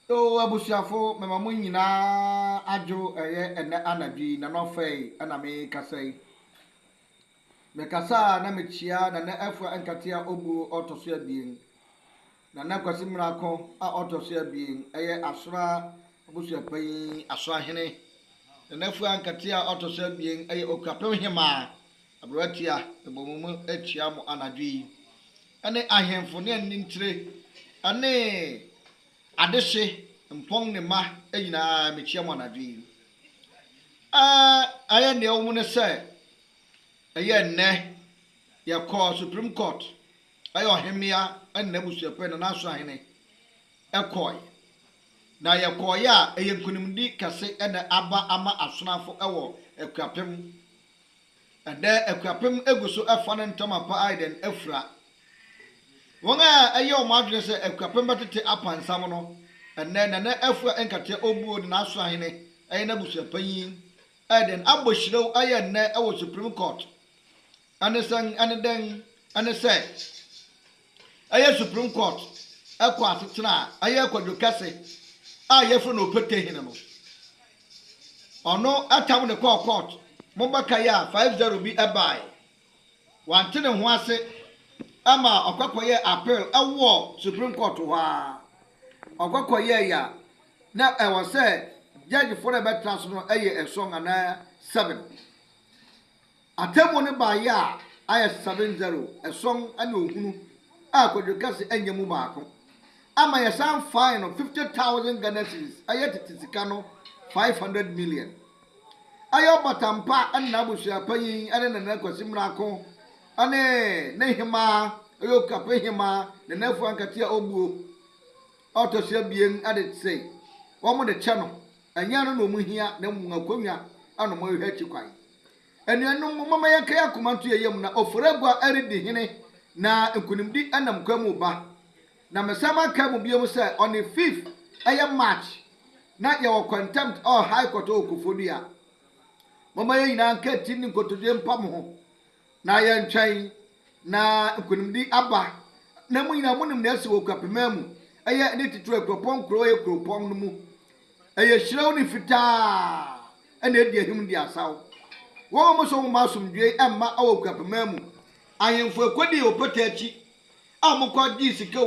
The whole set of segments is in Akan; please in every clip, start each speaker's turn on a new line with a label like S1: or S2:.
S1: Oh abusuafo mema mo nyinaa adwo ɛyɛ ɛnɛ anadwo yi nana ɔfɛe ɛna me kasa yi me kasa a na me kyia nana afua nkatea obuo ɔtɔ so abien nana kwasi mmerako a ɔtɔ so abien ɛyɛ asora abusua panyin asora hene nana afua nkatea ɔtɔ so abien ɛyɛ okapem hemaa Aberante a mebɔ mo mu atua mo anadwo yi ne ahemfo ne anintire ne adehye mpɔn ne mma nyinaa, mekyia mo anadwo yi. Aa, ayɛ nea ɛwɔ mu ne sɛ, ɛyɛ nnɛ, yɛkɔɔ Supreme Court, ɛyɛ ɔhemmea ne n'abusuapɛn, Nanaso Ahene, ɛkɔɔe. Na yɛkɔɔeɛ a, ɛyɛ nkunimdi kɛse na aba ama Asonafo wɔ Akuapem Ɛdɛ akuapem gu so fa ne ntama pa ayɛ dɛn afura. Wɔn a ɛyɛ wɔn adwene sɛ akuapem bɛtete apansam no, ɛnnɛ Nana Afua Nkateɛ Obuo ne n'aso ahene ɛyɛ n'abusuapanyin ɛyɛ dɛn abɔ hyirɛw ayɛ nnɛ wɔ Supreme Court. Ɛne sɛn? Ɛne dɛn? Ɛne sɛ. Ɛyɛ Supreme Court kɔ asetena a ɛyɛ kwadwo kɛse a yɛfrɛ no Opete Hene no. Ɔno tam no kɔɔ court mo bɛkae a five zero bi bae. Wante ne ho ase ma ɔkɔ kɔyɛɛ appeal wɔ Supreme Court hɔ ara. Ɔkɔ kɔyɛɛe a na ɛwɔ sɛ judgefoɔ no a ɛbɛtra so no yɛ ason anaa seven. Atemmuo no baeɛ a ayɛ seven zero, ɛsɔn ne ohunu a Kwadwo Kɛse annya mu baako ama yɛsan fae no fifty thousand Ghana cedis, ɛyɛ tete sika no five hundred million. Ɛyɛ ɔbata mpa ne n'abusua panyin ne Nana Kwasi Miraako ne ne hemaa, ɛyɛ Okape hemaa Nana Afu Ankate a ɔbuo a ɔtɔ so abien de se wɔn de kyɛ no, ɛnyɛ ɛno na wɔn hia na mmom akonnwa na wɔn rehwɛ akyi kwan. Anuanom, momma yɛnka yɛn akoma nto yɛn yam, na ofori agua redi hene, na nkonimdi nam kwan mu reba. Na mɛsan makae mo bio sɛ, on the fifth, ɛyɛ March, na yɛwɔ contempt or high court wɔ Koforidua. Momma yɛn nyinaa nka ti nni nkotodwe mpa mo ho. Na yɛntwɛn na nkonimdi aba, na mo nyinaa monim nea asi wɔ Okuapema mu, ɛyɛ ne titiriw a kuropɔn nkuro a ɛyɛ kuropɔn no mu, ɛyɛ hyerɛw ne fitaa a na edi ahim di asaw. Wɔn a wɔsɔ nhoma Asomdwoe Mma wɔ Okuapema mu, ahemfo a ekodii ɔpata akyi a wɔkɔ gyee sika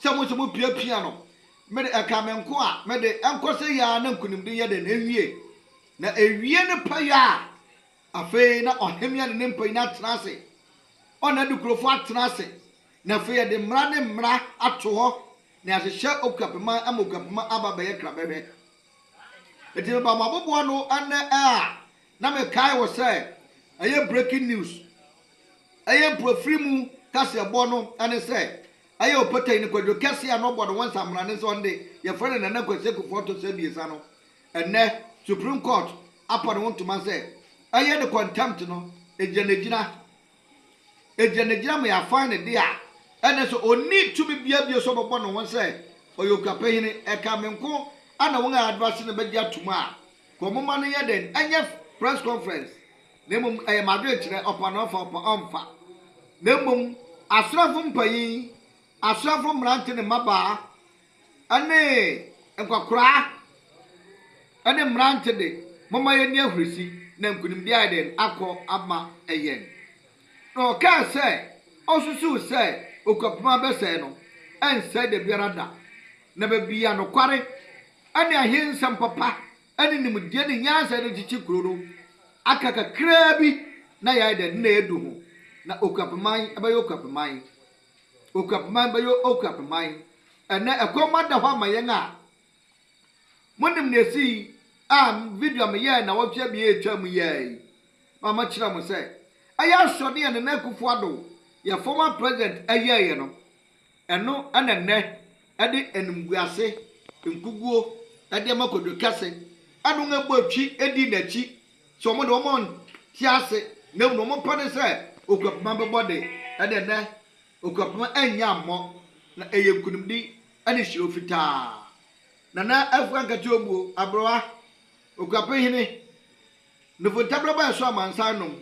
S1: sɛ mo nso mupiapia no, me de, ɛkaa me nko a, me de, ɛnkɔ sɛ yi ara na nkonimdi yɛ dɛn? Ewie. Na ewie ne pɛyɛ a, Afei na ɔhemmea ne ne mpanyin atena ase, ɔne n'adukurofo atena ase, na afei yɛde mmara ne mmara ato hɔ, na yɛahyehyɛ okuapema ama okuapema aba abɛyɛ krabɛhwɛ. Enti meba mo abobow ano ɛnnɛ a, na mekae wɔ sɛ ɛyɛ breaking news. Ɛyɛ mpoafiri mu kaseɛbɔ no ne sɛ, ɛyɛ ɔpatani no Kwadwo Kɛse a na ɔbɔ ne ho nsammrane sɛ ɔno de, yɛfrɛ no Nana Kwasi Akuffo Ɔtɔ so Abiɛsa no, Ɛnnɛ, Supreme Court apa ne ho ntoma sɛ ɛyɛ ne contempt no agyinagyina. Agyinagyina ma yɛafan ne de a, ɛnde so onni tumi biara bio sɛ ɔbɛbɔ ne ho sɛ ɔyɛ Okuapɛ Hene? Ɛka me nko na wɔn a ɛda ase no bɛgye atom a? Kɔ momma no nyɛ dɛn? Ɛnyɛ press conference, na mmom ɛyɛ m'adwenkyerɛ, ɔpa na ɔfa, ɔpa ɔmfa. Na mmom asraafo mpanyin, asraafo mmerante ne mmabaa, ne nkwakoraa ne mmerante de, momma yɛnni ahurisi, na nkonimdi ayɛ dɛn akɔ ama yɛn? Na ɔkaa sɛ, Osusuw sɛ okwapem a abɛsɛe no rensɛe da biara da, na baabi a nokware ne ahensɛm papa ne nimdeɛ ne nyansa yɛ no kyekye kurow no, aka kakraa bi na yɛayɛ dɛn? Na yɛadu ho, na okwapeman bɛyɛ okwapeman. Okuapman bɛyɛ Okuapman. Ɛnnɛ, ɛkɔm ada hɔ ama yɛn a monim nea esii a video a meyɛe nnawɔtwe abien a etwaam yi ara yi ma makyerɛ mo sɛ ɛyɛ asoɔden a Nana Akufo-Addo, yɛn former President, yɛeɛ no. Ɛno na ɛnnɛ ɛde animguase nkuguo de ama Kojo Kɛse, ɛna wɔabɔ twi dii n'akyi Sɛ wɔn de wɔn nte ase, na mmom wɔn pɛ ne sɛ Okuapoma bɛbɔ de, ɛnde nnɛ Okuapoma annya ammɔ, na ɛyɛ nkunimdi ne hyerɛw fitaa. Nana Afua Nkate Obuo, Aberewa, Okuapon Hene, Nufo Ntabrabɔ a ɛsɔ amansan nom,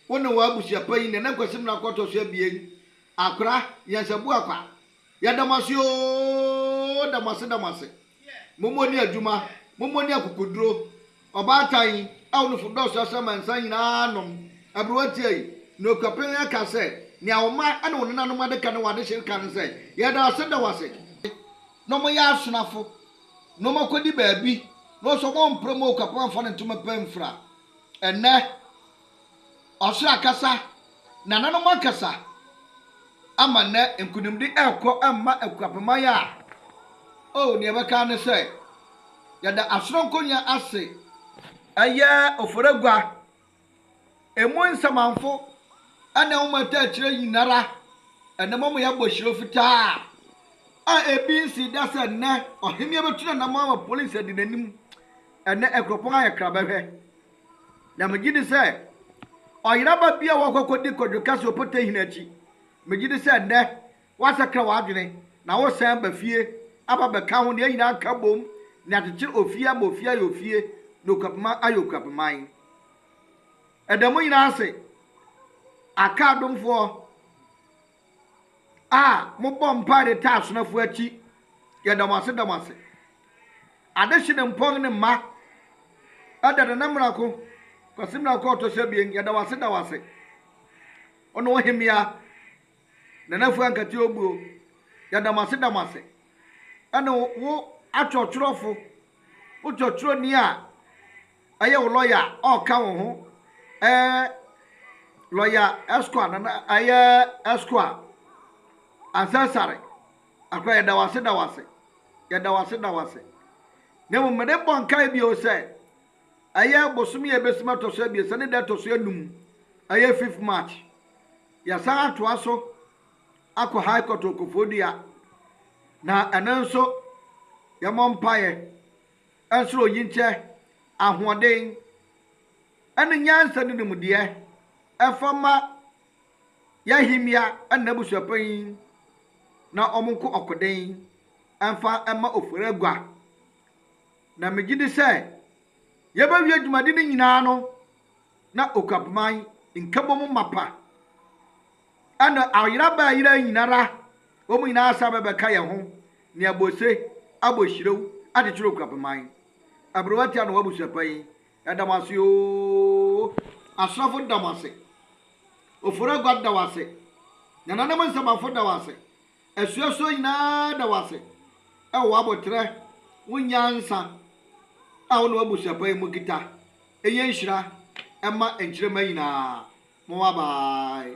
S1: wo ne w'abusuapanyin Nana Kwasi Mena Kɔtɔ so abien, Akora, Nyansabu Akwa, Yɛda mo ase ooh da mo ase da mo ase mommɔ ni adwuma mommɔ ni akokoduro ɔbaatan yi awonofo dɔɔso asɛ ma nsa nyinaa nom ɛbere watia yi na okura pɛn ɛka sɛ nea wo man ɛne wo nenanom adeka ne w'adehye reka ne sɛ yɛda wase da wase na ɔmo yɛ asonafo na ɔmo akɔdi baabi na ɔsɛ ɔmo mpere mu okura pɛn amfa ne ntoma pɛn mfira ɛnɛ. Ɔsra kasa, Nananom akasa ama nnɛ nkunimdi rekɔ mma akuapɛman a oh nea ɛbɛka ara ne sɛ yɛda asoronkonya ase. Ɛyɛ Oforagua, Emu nsamanfo ne nwoma ataakyerɛ nyinara na ɛma wɔyɛ abɔhyirɔ fitaa a ebi nsii da sɛ nnɛ Ɔhemmea bɛtu n'anammɔn ama polisi adi n'anim. Ɛnnɛ nkuropɔn ayɛ kra bɛhwɛ. Na megye di sɛ ɔyeraba bi a wakɔ akɔdi kwadwokɛ sɛ ɔpotahini akyi, megye di sɛ nnɛ woasakra w'adwene na woresan aba fie aba abɛka ho na yɛn nyinaa nka bom na yɛakyekyere ofie ama ofie ayɛ ofie na okuapman ayɛ okuapman. Ɛda mo nyinaa ase, Aka adomfoɔ. a mobɔ mpae de taa asomafo akyi. Yɛda mo ase da mo ase. Adehye ne mpɔn ne mma. Ɛda Nana Mmirako, Kwasi Mmirako a ɔtɔ so abien. Yɛda wo ase da wo ase. Ɔne ohemea Nana Fu Ankate Obuo. Yɛda mo ase da mo ase. Ɛne wo atwerɛtwerɛfo, wo twerɛtwerɛni a Ɛyɛ wo lɔya a ɔreka wo ho ɛɛ lɔya ɛskoa nana ɛyɛ ɛskoa ansɛsare akora yɛda wase da wase yɛda wase da wase na mmom mede bɔ nkae bio sɛ ɛyɛ bosom yɛ bɛsim ɛtɔ so abiɛsa ne da ɛtɔ so anum ɛyɛ fifth march yɛsan atoa so akɔ high court okofoɔ dua na ɛno nso yɛmɔ mpaeɛ Ɛnso oyi nkyɛ, ahoɔden ne nyansa ne nimdeɛ ɛfa ma y'ahemmea ne n'abusuapanyin na wɔn nko ɔkoden mfa mma Oforagua. Na me gyidi sɛ yɛbɛwie dwumadi no nyinaa no na Okuapman nkabom mapa. Ɛna ayera bɛ ayera yi nyinara wɔn nyinaa asan bɛ bɛka yɛn ho ne abose abɔ hyirew akyekyere okurapeman. Aberewa tia na w'abusuapanyin. Yɛda mo ase oo. Asrafo da mo ase. Ofori Agua da wo ase. Nananom Nsɛmafo da wo ase. Asuafoɔ nyinaa da wo ase wɔ w'aboterɛ, wo nyansa a wo ne w'abusuapa yi mo kita. Ɛnyɛ nhyira mma nkyirema nyinaa. Moa bye.